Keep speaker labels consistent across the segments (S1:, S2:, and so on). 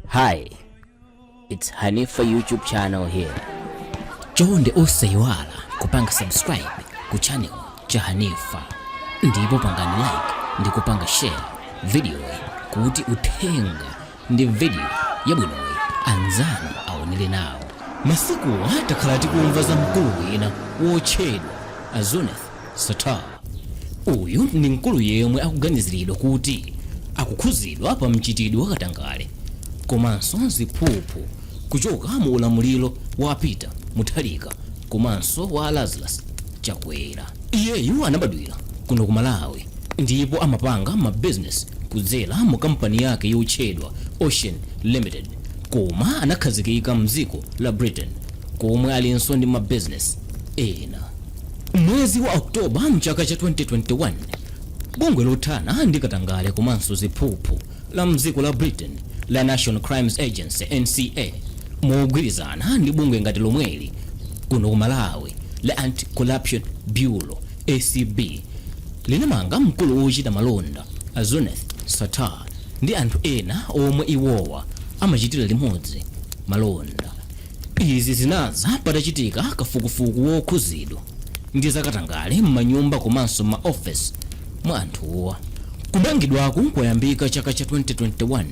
S1: Hi, it's Hanifa YouTube channel here. Chonde
S2: osayiwala kupanga subscribe ku channel cha Hanifa ndipo pangani like ndi kupanga share videoyi kuti uthenga ndi video yabwinoyi anzanu aonere nawo. Masikuwa takhala tikumva za mkulu wina wotchedwa a Zuneth Sattar, uyu ndi mkulu yemwe akuganiziridwa kuti akukhuzidwa pa mchitidwe wa katangale komanso ziphuphu kuchoka mu ulamuliro wa Peter Mutharika komanso wa a Lazarus Chakwera. Iyeyu anabadwira kuno ku Malawi ndipo amapanga ma business kudzera mu kampani yake yotchedwa Ocean Limited koma anakhazikika mdziko la Britain komwe alinso ndi ma business ena. Mwezi wa October mchaka cha 2021, bungwe lothana ndi katangale komanso ziphuphu la mdziko la Britain la National Crimes Agency, NCA, mogwirizana ndi bungwe ngati lomweli kuno ku Malawi la Anti-Corruption Bureau, ACB, linamanga mkulu wochita malonda a Zuneth Sattar ndi anthu ena omwe iwowa amachitira limodzi malonda. Izi zinaza patachitika kafukufuku wokhuzidwa ndi zakatangale m'manyumba komanso m'ma office mwa anthuwa. Kumangidwako kwayambika chaka cha 2021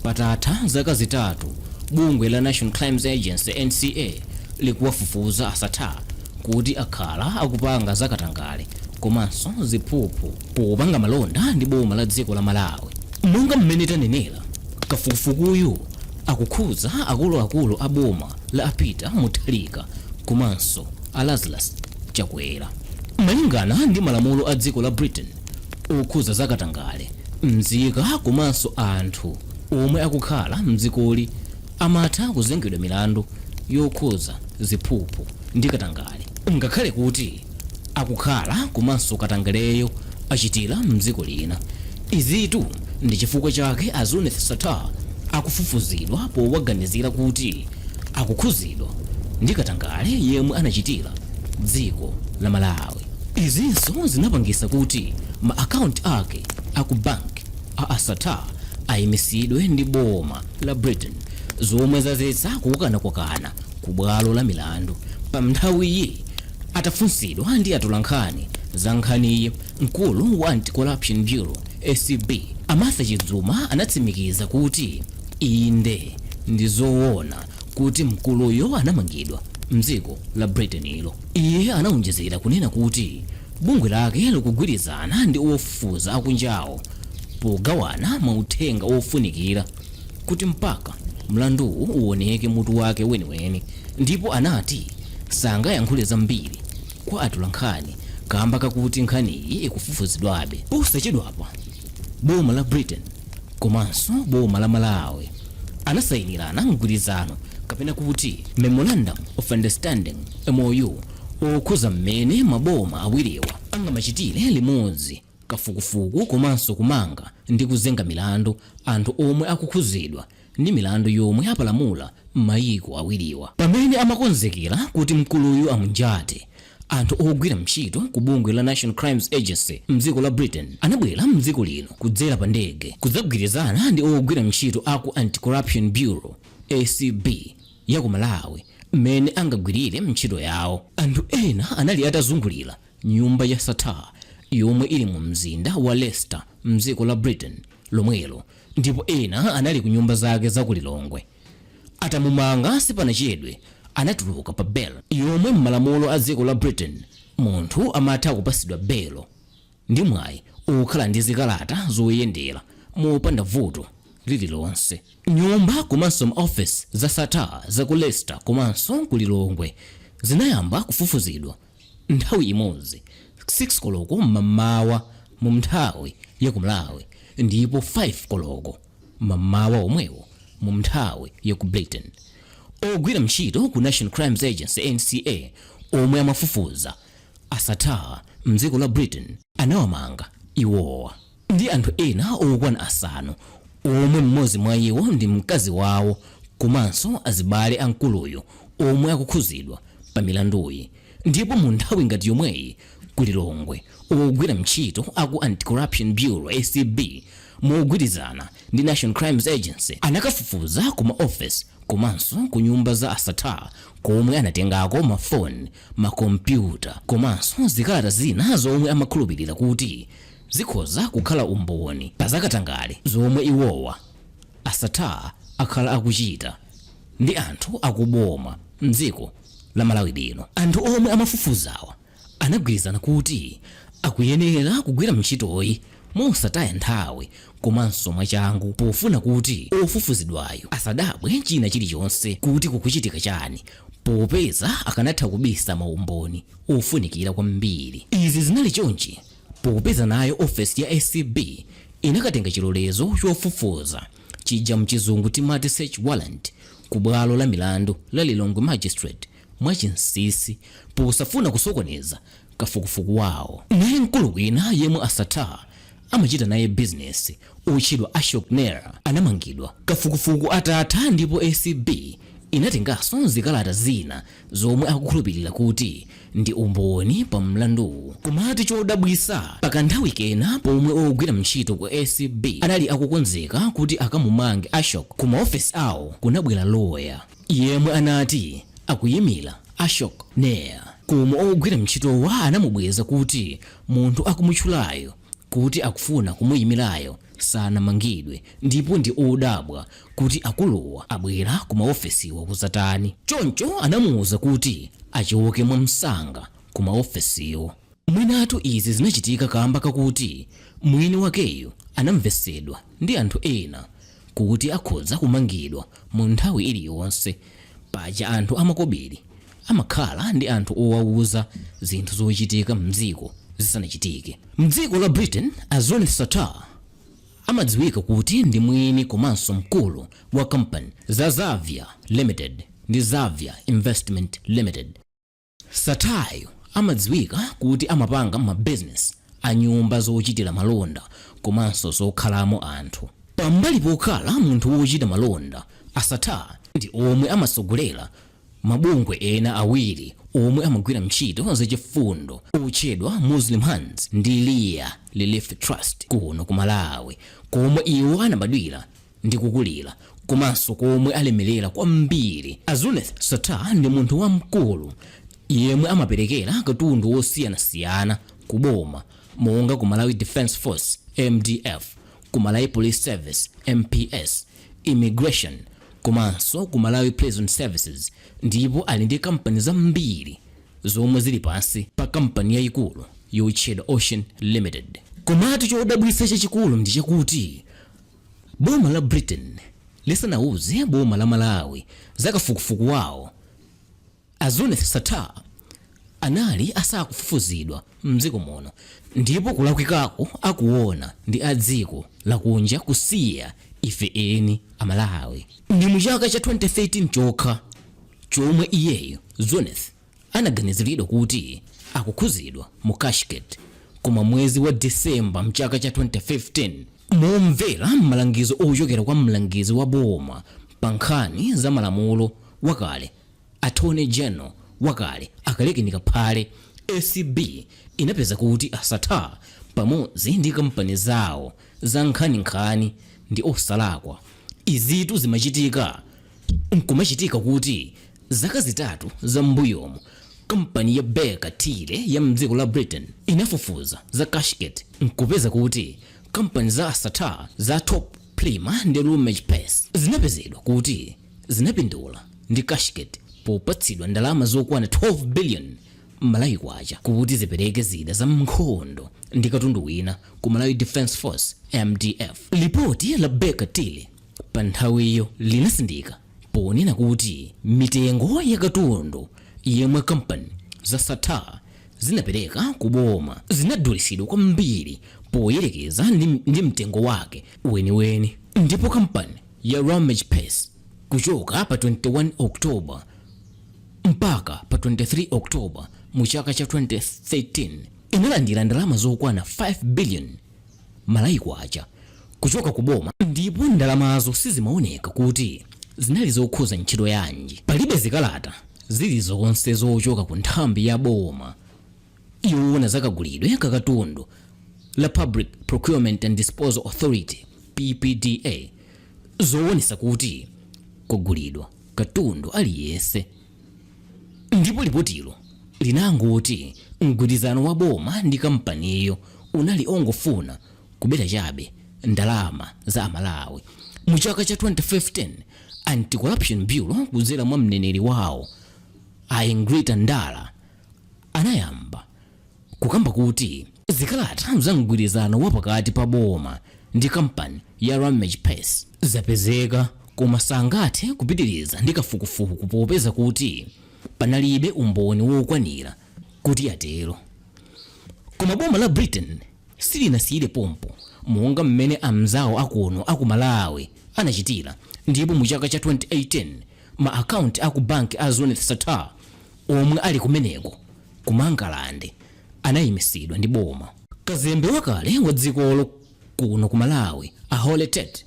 S2: patatha zaka zitatu bungwe la National Crimes Agency, NCA, likuwafufuza a Sattar kuti akhala akupanga za katangale komanso ziphuphu popanga malonda ndi boma la dziko la Malawi. Monga m'mene tanenera, kafukufukuyu akukhuza akuluakulu a boma la a Peter Mutharika komanso a Lazarus Chakwera. Malingana ndi malamulo a dziko la Britain okhuza za katangale, mzika komanso anthu omwe akukhala m'dzikoli amatha kuzengedwa milandu yokhuza ziphuphu ndi katangale ngakhale kuti akukhala komanso katangaleyo achitira mdziko lina. Izitu ndi chifukwa chake a Zuneth Sattar akufufuzidwa powaganizira kuti akukhuzidwa ndi katangale yemwe anachitira dziko la Malawi. Izinso zinapangisa kuti ma account ake aku bank a a Sattar ayimisidwe ndi boma la Britain zomwe zazetsa kukwakanakwakana ku bwalo la milandu. Pa nthawiyi Atafunsidwa ndi atolankhani za nkhaniyi, mkulu wa Anti-Corruption Bureau, acb, a Martha Chizuma anatsimikiza kuti inde ndi zoona kuti mkuluyo anamangidwa m'dziko la Britain-lo. Iye anaonjezera kunena kuti bungwe lake likugwirizana ndi ofufuza akunjawo pogawana mauthenga ofunikira kuti mpaka mlanduwu uoneke mutu wake weniweni. ndipo anati sangayankhule zambiri kwa atolankhani kamba kakuti nkhaniyi ikufufuzidwabe. Posachedwapa, boma la Britain komanso boma la Malawi anasayinirana mgwirizano kapena kuti Memorandum of Understanding, MoU, okhuza mmene maboma awiriwa angamachitire limodzi kafukufuku komanso kumanga ndi kuzenga milandu anthu omwe akukhuzidwa ndi milandu yomwe apalamula m'mayiko awiriwa. Pamene amakonzekera kuti mkuluyu amunjate, anthu ogwira ntchito ku bungwe la National Crimes Agency mdziko la Britain anabwera mdziko lino kudzera pa ndege kudzagwirizana ndi ogwira ntchito aku Anti-Corruption Bureau, acb, yaku Malawi mmene angagwirire ntchito yawo. Anthu ena anali atazungulira Nyumba ya Sattar yomwe ili mu mzinda wa Leicester mdziko la Britain lomwelo ndipo ena anali ku nyumba zake za ku Lilongwe. Atamumanga sipanachedwe anatuluka pa bail yomwe mmalamulo a dziko la Britain munthu amatha kupasidwa belo ndi mwayi okhala ndi zikalata zoyendera mopanda vuto lililonse. Nyumba komanso ma office za Sattar za ku Leicester komanso ku Lilongwe zinayamba kufufuzidwa. nthawi imodzi 6 koloko mmamawa mu nthawi yaku Malawi ndipo 5 koloko mmamawa omwewo mu nthawi yaku Britain ogwira ntchito ku National Crimes Agency nca omwe amafufuza a Sattar mdziko la Britain anawamanga iwowa ndi anthu ena okwana asanu omwe m'modzi mwa iwo ndi mkazi wawo komanso azibale a mkuluyu omwe akukhuzidwa pa milanduyi ndipo mu nthawi ngati yomweyi ku Lilongwe ogwira ntchito aku Anti-Corruption Bureau acb mogwirizana ndi National Crimes Agency anakafufuza ku ma office komanso ku nyumba za a Sattar komwe anatengako ma phone, ma kompyuta komanso zikalata zina zomwe amakhulupirira kuti Zikhoza kukhala umboni pa zakatangale zomwe iwowa a Sattar akhala akuchita ndi anthu aku boma mdziko la Malawi lino. Anthu omwe amafufuzawa anagwirizana kuti akuyenera kugwira mntchitoyi mosataya nthawi komanso mwachangu pofuna kuti ofufuzidwayu asadabwe china chilichonse kuti kukuchitika chani popeza akanatha kubisa ma umboni ofunikira kwambiri. Izi zinali chonchi Popeza nayo ofesi ya acb inakatenga chilolezo chofufuza chija mchizungu timati search warrant ku bwalo la milandu la Lilongwe Magistrate mwa chinsisi posafuna kusokoneza kafukufuku wawo. Naye mkulu wina yemwe a Sattar amachita naye bizinesi otchedwa Ashok Nair anamangidwa kafukufuku atatha ndipo acb inatengaso zikalata zina zomwe akukhulupilira kuti ndi umboni pa mlanduwu. Komatu chodabwisa pakanthawi kena pomwe ogwira mtchito ku acb anali akukonzeka kuti akamumange Ashok ku maofesi awo kunabwera loya yemwe anati akuyimila Ashok Nair komwe ogwira mtchitowa anamubweza kuti munthu akumutchulayo kuti akufuna kumuyimirayo sanamangidwe ndipo ndi odabwa kuti akuluwa abwera ku maofesiwa kuzatani choncho anamuuza kuti achoke mwamsanga ku maofesiwo. Mwinatu izi zinachitika kamba kakuti mwini wakeyu anamvesedwa ndi anthu ena kuti akhoza kumangidwa mu nthawi iliyonse. Paja anthu amakobiri amakhala ndi anthu owauza zinthu zochitika mdziko zisanachitike. Mdziko la Britain, a Zuneth Sattar amadziwika kuti ndi mwini komanso mkulu wa kampani za Xaviar Limited ndi Xaviar Investment Limited. Sattar-yu amadziwika kuti amapanga ma business a nyumba zochitira malonda komanso zokhalamo anthu. Pambali pokhala munthu wochita malonda, a Sattar ndi omwe amasogolera ma bungwe ena awiri omwe amagwira ntchito za chifundo otchedwa Muslim Hands ndi Leah Relief Trust kuno ku Malawi komwe iwo anabadwira. ndi kukulira komanso komwe alemerera kwambiri. A Zuneth Sattar ndi munthu wamkulu yemwe amaperekera katundu wosiyanasiyana ku boma monga ku Malawi Defence Force, mdf, ku Malawi Police Service, mps, Immigration komanso ku Malawi Prison Services ndipo ali ndi kampani zambiri zomwe zili pansi pa kampani yayikulu yotchedwa Ocean Limited. Komatu chodabwisa chachikulu ndi chakuti Boma la Britain lisanauze boma la Malawi za kafukufuku wawo, a Zuneth Sattar anali asakufufuzidwa mdziko muno ndipo kulakwikako akuona ndi a dziko lakunja kusiya ife eni a Malawi. Ndi mu chaka cha 2013 chokha chomwe iyeyo, Zuneth, Anaganiziridwa kuti akukhuzidwa mu cashgate koma mwezi wa December mchaka cha 2015 momvera malangizo ochokera kwa mlangizi wa boma pa nkhani za malamulo wakale Attorney General wakale a Kalekeni Kaphale, acb inapeza kuti a Sattar pamodzi ndi kampani zawo za nkhaninkhani ndi osalakwa. Izitu zimachitika nkuchitika kuti zaka zitatu za m'mbuyomo kampani ya baker tilly ya mdziko la britain inafufuza za cashgate nkupeza kuti kampani za a sattar za top prima ndi rummage pace zinapezedwa kuti zinapindula ndi cashgate popatsidwa ndalama zokwana 12 billion malawi kwacha kuti zipereke zida za nkhondo ndi katundu wina ku malawi defense force mdf lipoti la baker tilly panthawiyo linasindika ponena kuti mitengo ya katundu yemwe kampani za Sattar zinapereka ku boma zinadulisidwa kwambiri poyerekeza ndi mtengo wake weniweni ndipo kampani ya Rummage Pace kuchoka pa 21 Oktoba mpaka pa 23 Oktoba mu chaka cha 2013 inalandira ndalama zokwana 5 billion malawi kwacha kuchoka ku boma ndipo ndalamazo sizimaoneka kuti zinali zokhuza ntchito yanji palibe zikalata zili zonse zochoka ku nthambi ya boma yoona za kagulidwe ka katundu la public procurement and disposal authority ppda zoonesa kuti kugulidwa katundu aliyense Ndipo lipotilo linangoti, Mgwirizano wa boma ndi kampaniyo unali ongofuna kubera chabe ndalama za Amalawi. Mu chaka cha 2015, Anti-Corruption Bureau kudzera mwa mneneri wawo a Egrita Ndala anayamba. kukamba kuti zikalata za mgwirizano wa pakati pa boma ndi kampani ya Rummage Pace zapezeka koma sangathe kupitiriza ndi kafukufuku popeza kuti panalibe umboni wokwanira kuti atero. Koma boma la Britain silinasiyire pompo monga mmene amzawo akuno aku Malawi anachitira ndipo mu chaka cha 2018 Ma account a ku bank a Zuneth Sattar omwe ali kumeneko ku Mangalande anayimisidwa ndi boma. Kazembe wakale wa dzikolo kuno ku Malawi a Holly Tett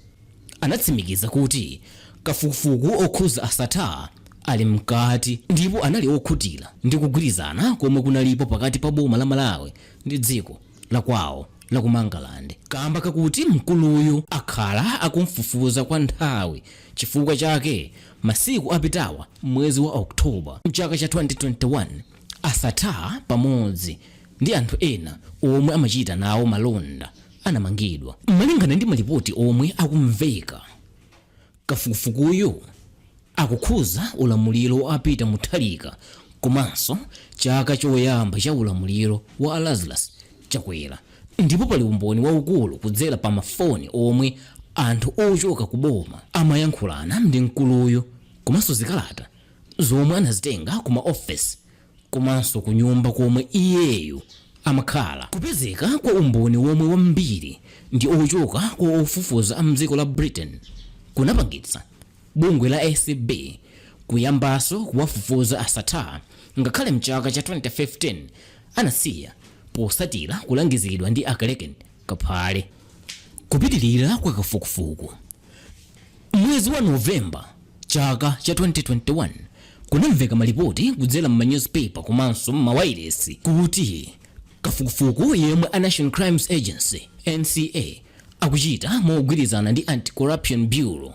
S2: anatsimikiza kuti kafukufuku okhuza a Sattar ali mkati ndipo anali okhutira ndi kugwirizana komwe kunalipo pakati pa boma la Malawi ndi dziko la kwawo. la ku Mangalande kaamba kakuti mkuluyu akhala akumfufuza kwa nthawi chifukwa chake masiku apitawa mwezi wa October mchaka cha 2021 a Sattar pamodzi ndi anthu ena omwe amachita nawo malonda anamangidwa. Malingana ndi malipoti omwe akumveka, Kafukufukuyu akukhuza ulamuliro wa a Peter Mutharika komanso chaka choyamba cha ulamuliro wa a Lazarus Chakwera ndipo pali umboni waukulu kudzera pa ma foni omwe anthu ochoka ku boma amayankhulana ndi mkuluyu komanso zikalata zomwe anazitenga ku ma ofesi komanso kunyumba komwe iyeyu amakhala. Kupezeka kwa umboni womwe wambiri ndi ochoka kwa ofufuza a mdziko la Britain kunapangitsa bungwe la ACB kuyambaso kuwafufuza a Sattar ngakhale mchaka cha 2015 anasiya posatira kulangizidwa ndi a Kalekeni Kaphale kupitilira kwa kafukufuku. M'mwezi wa November chaka cha 2021, kunamveka malipoti kudzera m'ma newspaper komanso m'ma wailesi kuti kafukufuku yemwe a National Crimes Agency, NCA, akuchita mogwirizana ndi Anti-Corruption Bureau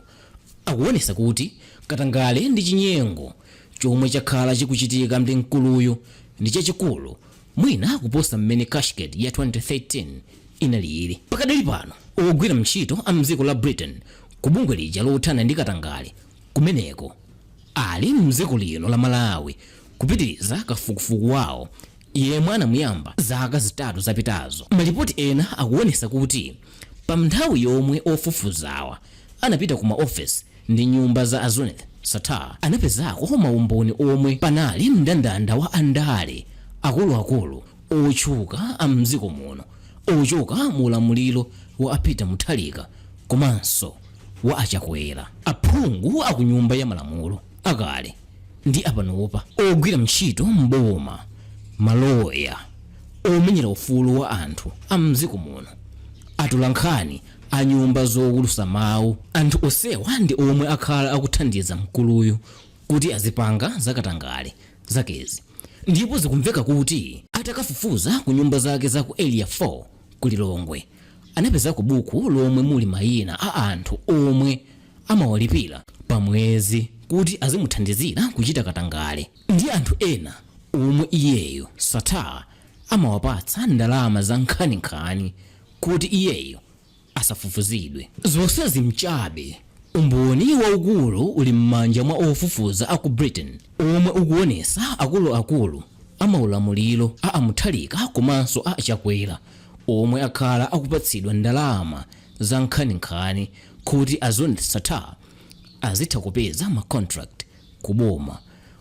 S2: akuonesa kuti katangale ndi chinyengo chomwe chakhala chikuchitika ndi mkuluyu ndi chachikulu mwina kuposa mmene cashgate ya 2013 inalili. Pakadali pano, ogwira ntchito a mdziko la Britain ku bungwe lija lothana ndi katangale kumeneko ali mdziko lino la Malawi kupitiliza kafukufuku wawo yemwe anamuyamba zaka zitatu zapitazo. Malipoti ena akuwonesa kuti pa nthawi yomwe ofufuzawa anapita ku ma ofesi ndi nyumba za a Zuneth Sattar anapezako maumboni omwe panali mndandanda wa andale akuluakulu otchuka a mdziko muno ochoka mu ulamuliro wa a Peter Mutharika komanso wa a Chakwera. Aphungu a ku nyumba ya malamulo akale ndi apanopa ogwira ntchito m'boma, maloya, omenyera ufulu wa anthu a mdziko muno, atolankhani a nyumba zowulutsa mawu. Anthu onsewa ndi omwe akhala akuthandiza mkuluyu kuti azipanga zakatangale zakezi ndipo zikumveka kuti atakafufuza ku nyumba zake za ku Area 4 ku Lilongwe anapezako buku lomwe muli mayina a anthu omwe amawalipira pa mwezi kuti azimuthandizira kuchita katangale ndi anthu ena omwe iyeyo, Sattar, amawapatsa ndalama za nkhaninkhani. kuti iyeyu asafufuzidwe. Zonsezi mchabe, umboni waukulu uli mmanja mwa ofufuza aku Britain omwe ukuonesa akulu akulu amaulamuliro a a Mutharika komanso a a Chakwera omwe akhala akupatsidwa ndalama za nkhani nkhani kuti a Zuneth Sattar azitha kupeza ma contract ku boma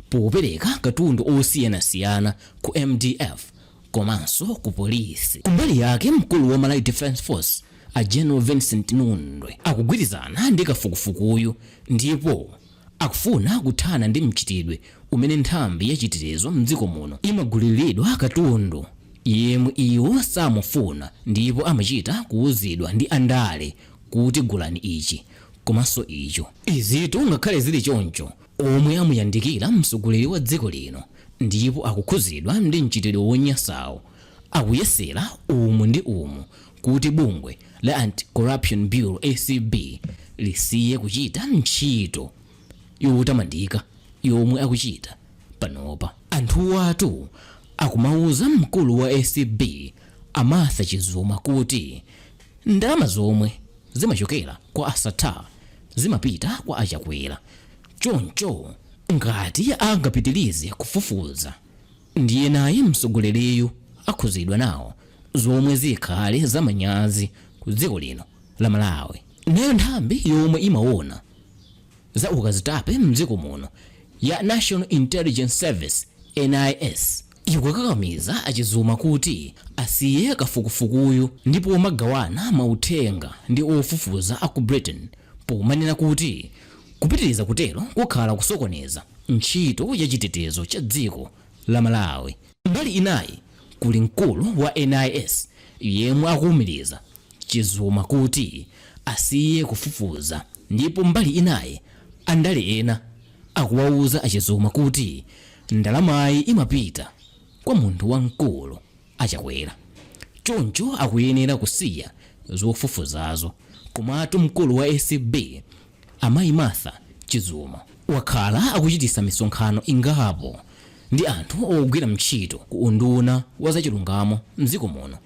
S2: popereka katundu osiyanasiyana ku mdf komanso ku polisi. Kumbali yake mkulu wa Malawi Defence Force a General Vincent Nundwe akugwirizana ndi kafukufukuyu ndipo akufuna kuthana ndi mchitidwe umene nthambi ya chitetezo mdziko muno imaguliridwa katundu yemwe iwo samufuna ndipo amachita kuwuzidwa ndi andale kuti gulani ichi komanso icho. Izitu ngakhale zili choncho, omwe amuyandikira mtsogoleri wa dziko lino ndipo akukhuzidwa ndi mchitidwe wonyansawu, akuyesera umu ndi umu kuti bungwe la Anti-Corruption Bureau, acb, lisiye kuchita ntchito yotamandika yomwe akuchita panopa. Anthuwatu akumauza mkulu wa acb, a Martha Chizuma kuti Ndalama zomwe zimachokera kwa a Sattar zimapita kwa a Chakwera. Choncho ngati angapitilize kufufuza ndiye naye mtsogoleriyu akhuzidwa nawo zomwe zikhale za manyazi ku dziko lino la Malawi. Nayo nthambi yomwe imawona za ukazitape mdziko muno ya National Intelligence Service, NIS, Ikukakamiza a Chizuma kuti asiye kafukufukuyu ndipo kumagawana mauthenga ndi ofufuza a ku Britain pomanena kuti kupitiliza kutero kukhala kusokoneza ntchito ya chitetezo cha dziko la Malawi. Mbali inayi kuli mkulu wa NIS yemwe akuumiliza Chizuma kuti asiye kufufuza ndipo mbali inayi andale ena. akuwauza a Chizuma kuti ndalamayi imapita kwa munthu wamkulu, a Chakwera, choncho akuyenera kusiya zofufuzazo. Komatu mkulu wa ACB, amayi Martha Chizuma, wakhala akuchitisa misonkhano ingapo ndi anthu ogwira ntchito ku unduna wa zachilungamo mdziko muno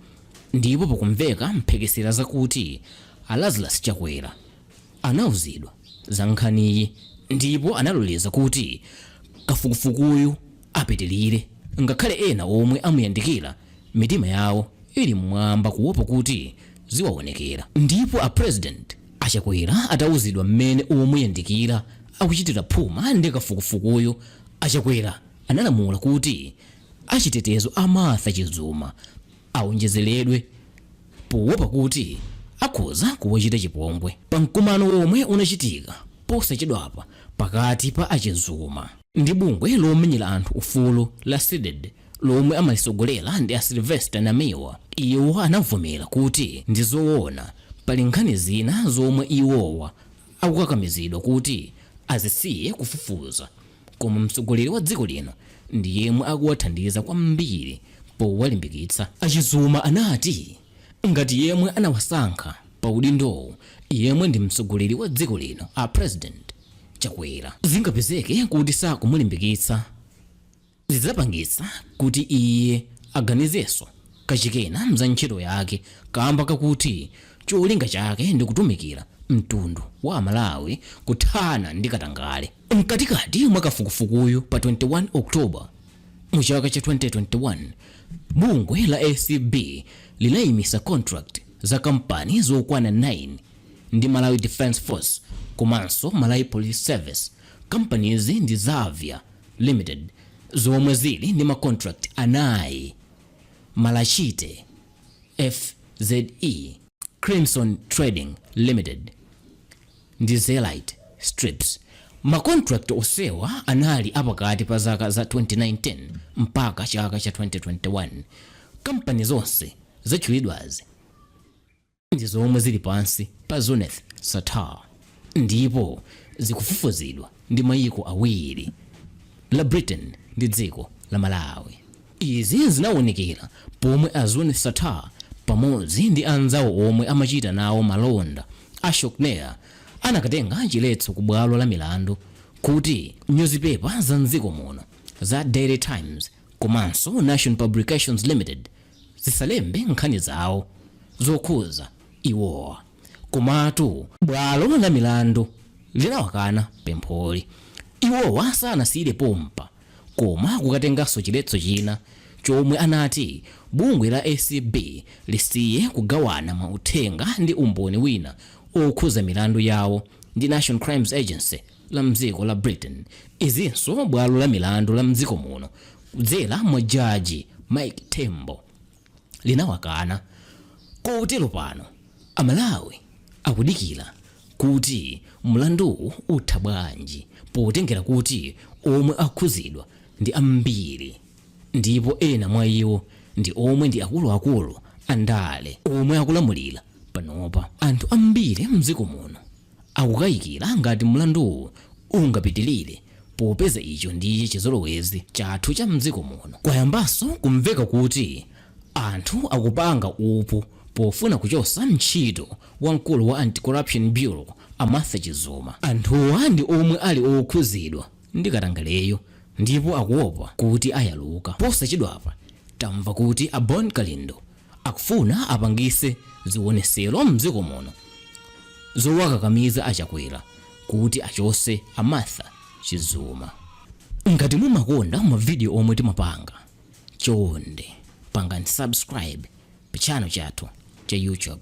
S2: ndipo pakumveka mphekesera zakuti a Lazarus Chakwera, anauzidwa za nkhaniyi ndipo analoleza kuti kafukufukuyu apitilire ngakhale ena omwe amuyandikira mitima yawo ili mmwamba kuopa kuti ziwaonekera ndipo a president a Chakwera atauzidwa mmene omuyandikira akuchitira phuma ndi kafukufukuyu a Chakwera analamula kuti achitetezo a Martha Chizuma awonjezeredwe powopa kuti akhoza kuwachita chipongwe pa mkumano omwe unachitika posachedwapa pakati pa a Chizuma ndi bungwe lomenyera anthu ufulu la CDEDI lomwe amalisogolera ndi a Sylvester Namiwa iwo anavomera kuti ndi zoona pali nkhani zina zomwe iwowa akukakamizidwa kuti azisiye kufufuza koma mtsogoleri wa dziko lino ndi yemwe akuwathandiza kwambiri powalimbikitsa. A Chizuma anati ngati yemwe anawasankha pa udindowu yemwe ndi mtsogoleri wa dziko lino a President Chakwera zingapezeke kuti sakumulimbikitsa, zidzapangitsa kuti iye aganizenso kachikenanso za ntchito yake kamba kakuti cholinga chake ndi kutumikira mtundu wa a Malawi kuthana ndi katangale. Mkatikati mwa kafukufukuyu pa 21 October mu chaka cha 2021, bungwe la ACB linayimisa contract za kampani zokwana 9 ndi Malawi Defence Force komanso Malawi Police Service. Kampanizi ndi Xaviar. Limited zomwe zili ndi ma contract anayi, Malachite FZE, Crimson Trading Limited ndi Xelite Strips. Ma contract onsewa anali a pakati pa zaka za 2019 mpaka chaka cha 2021. Kampani zonse zatchulidwazi. ndi zomwe zili pansi pa Zuneth Sattar ndipo zikufufuzidwa ndi mayiko awiri la Britain ndi dziko la Malawi. Izi zinawonekera pomwe a Zuneth Sattar pamodzi ndi anzawo omwe amachita nawo malonda a Ashok Nair anakatenga chiletso ku bwalo la milandu kuti nyuzipepa za m'dziko muno za Daily Times komanso Nation Publications Limited zisalembe nkhani zawo zokhuza iwowa. Komatu bwalo la milandu linawakana pempholi. Iwowa sanasiyire pompa koma kukatenganso chiletso china chomwe anati bungwe la acb lisiye kugawana mauthenga ndi umboni wina okhuza milandu yawo ndi National Crimes Agency. la mdziko la Britain. Izinso bwalo la milandu la mdziko muno kudzera mwa jaji Mike Tembo linawakana. Kotero pano Amalawi akudikira kuti mlanduwu utha bwanji potengera kuti omwe akhuzidwa ndi ambiri ndipo ena mwa iwo ndi omwe ndi akuluakulu andale omwe akulamulira panopa. Anthu ambiri mdziko muno akukayikira ngati mlanduwu ungapitilire popeza icho ndiye chizolowezi chathu cha m'dziko muno. Kwayambanso kumveka kuti anthu akupanga upo pofuna kuchosa mntchito wamkulu wa Anti-Corruption Bureau a Martha Chizuma. Anthuwa ndi omwe ali okhuzidwa ndi katangaleyu ndipo akuopa kuti ayaluka. Posachedwapa tamva kuti a Bon Kalindo akufuna apangise zionesero mdziko muno zowakakamiza a Chakwera kuti achose a Martha Chizuma. Ngati mumakonda ma video omwe timapanga, chonde pangani subscribe pa channel chathu cha YouTube.